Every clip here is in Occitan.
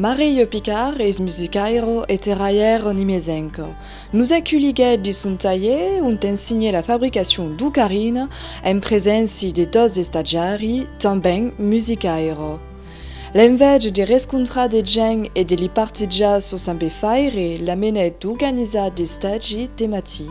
Marilho Picard es musicairo e terraièro nimesenc. Nos aculhiguèt dins son talhièr ont ensenhèt la fabricacion d'ocarina en preséncia de dos estatiari tanben musicairo. L'enveja de rescontrar de gents e de li partejar sos saber-faire l'amenèt d'organizar d'estagi de matí.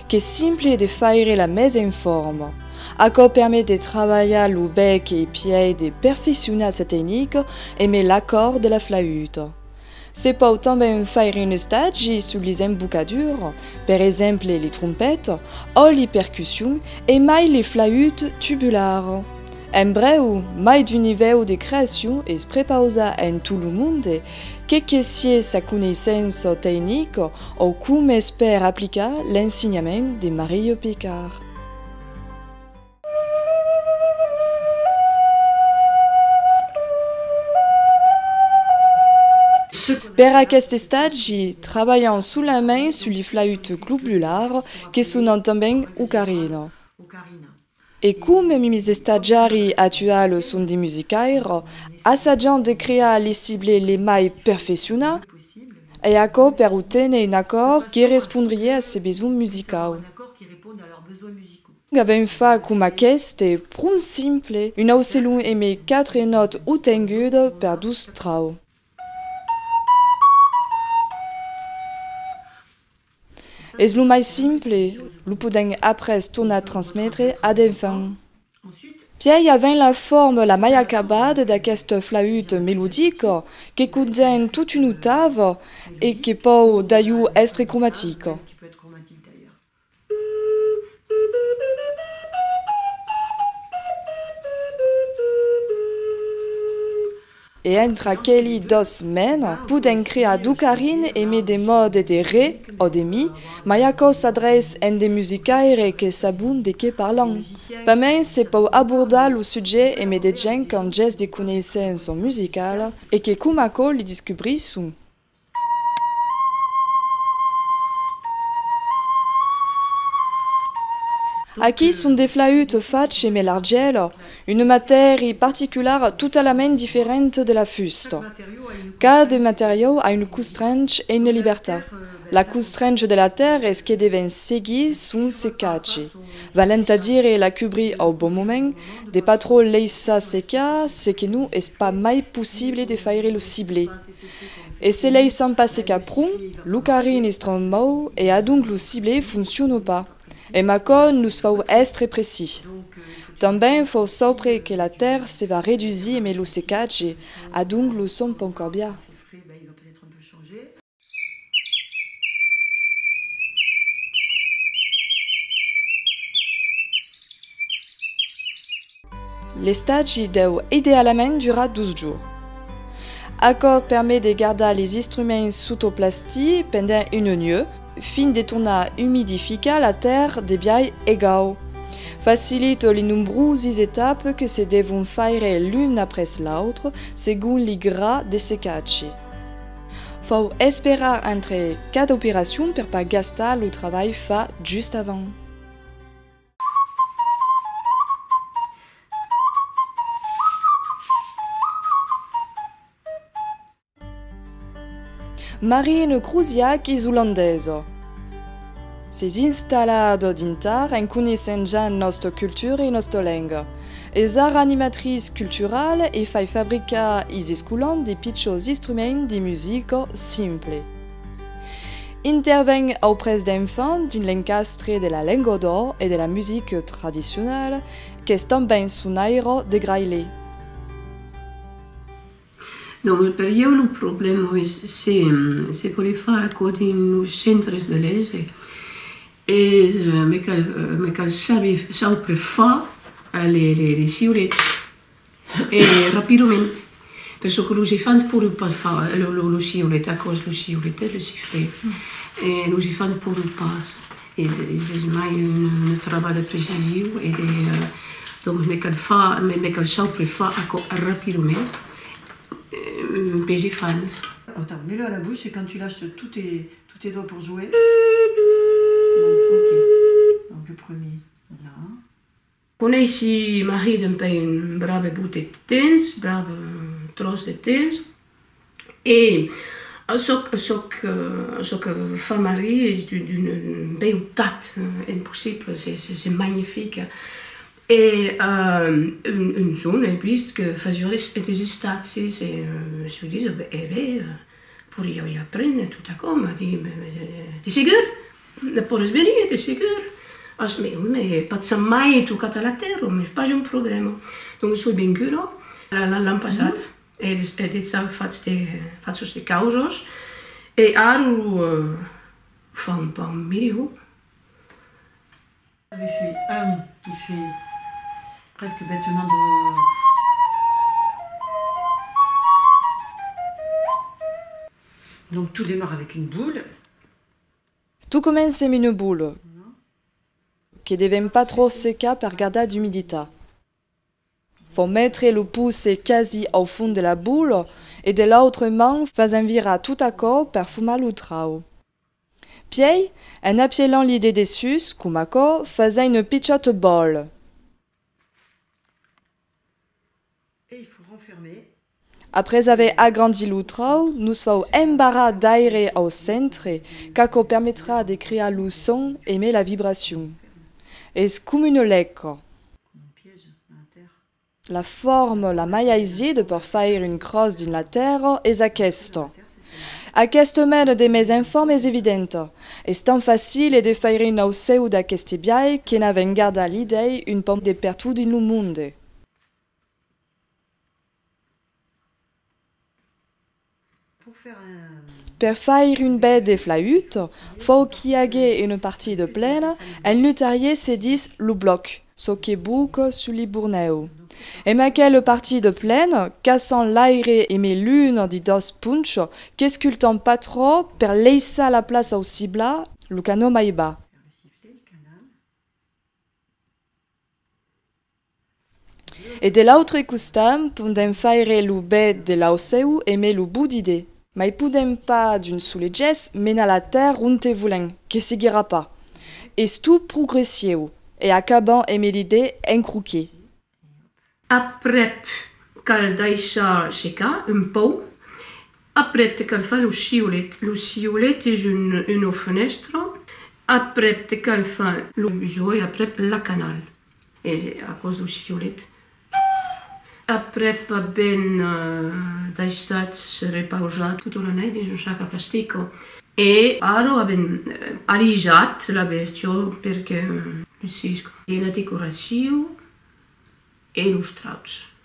Qu'es simple de faire la mes en forma. Aquò permet de trabalhar lo bèc e pièi de perfeccionar sa tecnica e mai l'acòrd de la flauta. Se pòu tanben faire un estagi sus les embocadures, per exemple les trompettes, ò les percussions e mai les flautes tubulares. En brèu, mai d'un nivèu de creacion es prepausat en tot lo monde, que que sies sa coneissença tecnica O com es per aplicar l'ensenhament de Marilho Picard. Per aqueste estagi, trabalhan solament sul flauto globular, que sonan tanben ocarina. E com mi misestatjari a tuar lo son de musicaire, assajant de crear li cible le mai perfecciona, e aquò per oténer un acòrd que respondrie a se besonh musicau. Avèm fa com aqueste, pron simple, un aucelon eme quatre nòt otengude per dos trau. Es lo mai simple, lo podèm après tornar transmetre ad enfant. Pièi a ven la forma la mai acabada d'aquest flaüt melodic que contèn tot un octave e que pòu daieu èstre cromatic. E entre aqueli dos mèn, podèm crear d'o carin e me de mòde de re, ò de mi, mai aquò s'adrèiss en de musicaire que sabon de qué parlan. Pas mens se pòu abordar lo sujet e me de gent qu'an gès de conéisser en son musical e que coma aquò li discubrisson. Aquí son de flaüt fach emé l'argèl, una matèri particulara totalament diferent de la fusta. Cada materiau a un costrench e una liberta. La costrench de la tèrra es que devèn seguir son secatge, valent a dire la cubrir au bon moment, de pas trop laissar secar, se que non es pas mai possible de faire lo ciblé. E se lei s'an pas secat pron, lo carin es tròp mau e adonc lo cible fonciona pas. E Macon los fau èstre precis. Tanben fau saupre que la tèrr se va redusir emé lo secatge, adonc lo son pon cambiar. L'estatge deu idealament durar dos jours. Aquò permet de gardar les instruments sota o plastir pendent un onieu, fin de tornar umidificar la tèrra de biais egau. Facilita li nombrosis etapes que se devon faire l'un après l'autre segon li gra de secatge. Fau esperar entre cada operacion per pas gastar lo trabalh fat just avant. Marine crusiac isolandesa. S'es instalada dintar en coneissent ja nosta cultura e nosta lenga. Es ara animatrice culturale e fai fabricar is escolans de pichòus instruments de musica simple. Interveng auprès d'enfants dins l'encastre de la lenga d'ò e de la musica tradicionala, qu'es tanben sonaira de Graillet. Dins lo periòu lo problèma es se se podé far aquò dins los centres de lese e me cal saber çò per far les siurets. E rapidament, per çò que los elefants pòdon pas far, lo siulet, aquò's lo siulet, eh, le sifflet, los elefants pòdon pas, es mai un trabalh precisiu e de, donc me cal far, me cal saupre far aquò rapidament pes elefants. Atau, mets-le a la bouche e quand tu lâches tous tes doigts pour jouer, donc ok, donc le premier là. Conèissi Marie dempèi un brave bot de tens, brave tròç de tens, e çò que fa Marie es d'una beutat impossibla, es magnifica, e un jorn ai vist que fasiá des estàtzies e me soi disa, e ben, poriá i aprene tot aquò, m'a dit, de segur? Ne pòres venir, de segur. As, me, me pas sap mai tocat a la tèrra, m'es pas un problèma. Donc soi venguda l'an passat, e des, e des au fatz de, fatzos de causas, e ara lo fa un pauc milhor. Ave fait un, qui fait presque bètement de Donc tout démarre avec une boule. Tu comencem une boule que devem pas trò secar per gardar d'umiditat. Fò metre lo pouce quasi au fond de la boule e de l'autre man fas envirar tot aquò per fumar lo trau. Pièi, en apièlant-li de dessús, com aquò, fas-en une pichòt boule. E i fou renfermé. Après aver agrandit lo tròu, nos fau embarrar d'aire au centre qu'aquò permetrà de crear lo son emé la vibracion. Es com una lèca. Com un piège dans la tèrra. La forma la mai aisier de per faire une crosse dins la tèrra es aquesta. Aqueste mène de mes enfants m'es evidente. Es tant facile de faire un aucèu d'aqueste biais que n'a ven garda l'idèi un pauc de pertot dins lo monde. Per faire un bèth de flaüt, fòu qu'i agué una partida plena, en lutarier se dis lo blòc, çò que buc sus li Burnèu. E mai qu'es le partit de plen, caçant l'aire e mai lunh di dos punch, qu'escultam pas trò per leissar la plaça au cibla, lo canó mai bas. E de l'autre costam pondem faire lo bèth de l'aucèu e mai lo boudidè. Mai podèm pas d'un sole gèst menar la tèrra onte volèm, que seguirà pas. Es tu pro grecieu, e acabam emb l'idee en croquet. Aprèp cal daishar secar un pauc, aprèp te cal far lo siolet, lo siolet es un una fenèstra, aprèp te cal far lo bujoy, aprèp la canal. E aquò's lo chiolèt. Ahh! Aprèp aven daissat se repausar tota una nèit dins un sac a plastico. E ara aven alijat la bestiol per que usisca. E la decoracion e los trauts.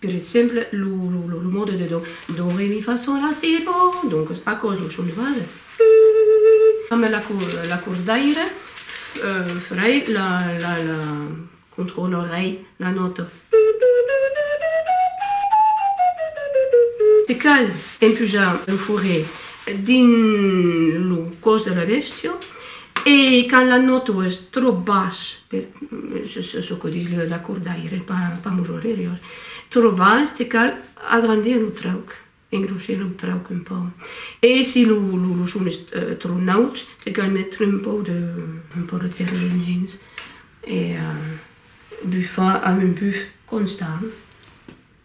Per exemple, lo mòde de do. Do, re, mi, fa, sol, la, si, do. Doncas, aquò's lo son de base. Amb l'acordaire frei la controlorei la nòta. Se cal empujar lo forret dins lo còs de la bèstia. E quand la nòto es tròp bas, per çò que dis l'acordaire, pas mos horerior, tròp bas, te cal agrandir lo trauc, engrossir lo trauc un pauc. E si lo son es tròp naut, te cal metre un pauc de un pauc de terrènh dins e bufar amb un buf constant.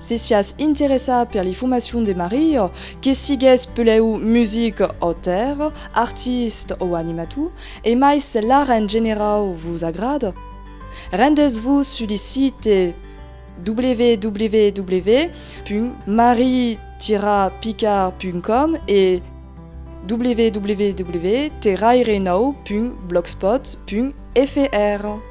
Se siás interessat per li formacion de Mario, que sigues pelèu music auteur, artist o animator, e mai se l'art en generau vos agrada, rendetz-vos sus li site www.marie-picard.com e www.terrairenou.blogspot.fr.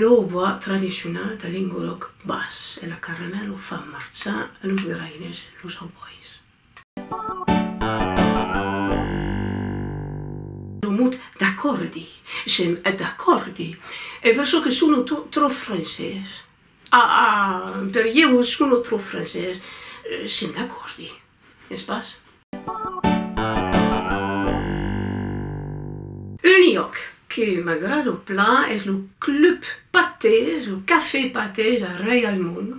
Lo hautbois tradicional de Lengolòc Bas e la carena lo fan marchar e los gueraires los hautbois. Lo mot d'acòrdi, sèm d'acòrdi, e per çò que sono tròp francés, ah, ah, per ieu sono tròp francés, sèm d'acòrdi. es pas? Un lloc que m'agrado plan es lo club patès, lo cafè patès a Reialmond.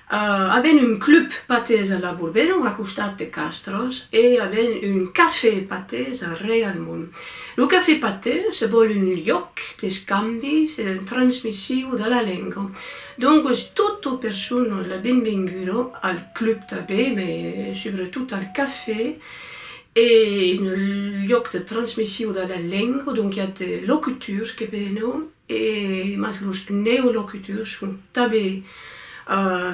Aben un club patès a La Bourbenon, a costat de Castros, e aben un cafè patès a Reialmond. Lo cafè patès se vòl un lloc d'escambi, transmissiu de la lenga. Doncos tota persona la benvenguda al club tanben me subretot al cafè e un luòc de transmission de la lenga donc i a de locutors que venon e mas los neolocutors son tanben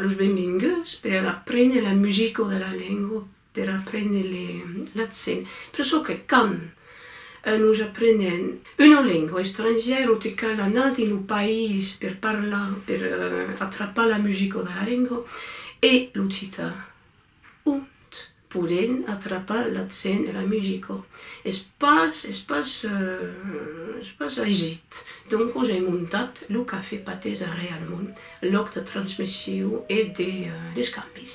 los benvenguts per aprene la musica de la lenga per aprene le l'accent, presso que quand nos aprenem una lenga estrangièra o te cal anar dins lo país per parlar, per atrapar la musica de la lenga e l'occitan ont podem atrapar l'accent e la musica es pas es pas es pas aisit, doncos ai montat lo cafè patesa realment lòc de transmission e de d'escambis.